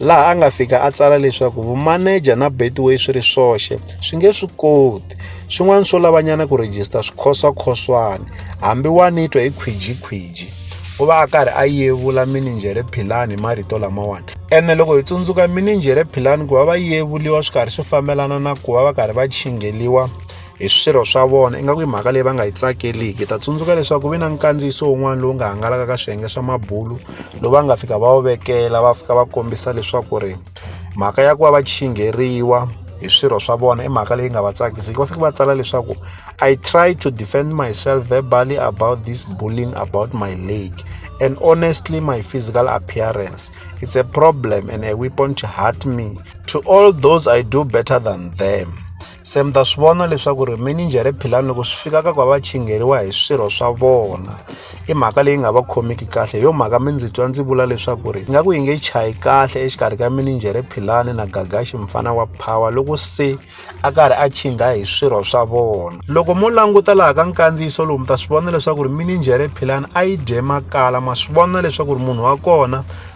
laha a nga fika a tsala leswaku vumaneja na betway swi ri swoxe swi nge swi koti swin'wana swo lavanyana ku rejista swikhoswakhoswana hambi wa ni twa hi khwijikhwiji u va a karhi a yevula mininjhere philani hi marito lamawani ene loko hi tsundzuka mininjhere philani ku va va yevuliwa swi karhi swi fambelana na ku va va karhi va chingeliwa hi swirho swa vona ingaku i mhaka leyi va nga yi tsakeliki ta tsundzuka leswaku ku ve na nkandziyiso wun'wana lowu nga hangalaka ka swiyenge swa mabulu lowu va nga fika va wu vekela va fika va kombisa leswaku ri mhaka ya ku va va chingheriwa hi swirho swa vona i mhaka leyi nga va tsakisiki va fike va tsala leswaku i try to defend myself verbally about this bullying about my leg and honestly my physical appearance it's a problem and a weapon to hurt me to all those i do better than them se mi ta swi vona leswaku ri mininjhere philani loko swi fika ka ku va va chingheriwa hi swirho swa vona i mhaka leyi nga va khomiki kahle hi yo mhaka mi ndzi twa ndzi vula leswaku ri ingaku yi nge chayi kahle exikarhi ka mininjhere philani na gagaxi mfana wa phawa loko se a karhi a chingha hi swirho swa vona loko mo languta laha ka nkandziyiso lowu mi ta swi vona leswaku ri mininjhere philani a yi dye makala ma swi vona leswaku ri munhu wa kona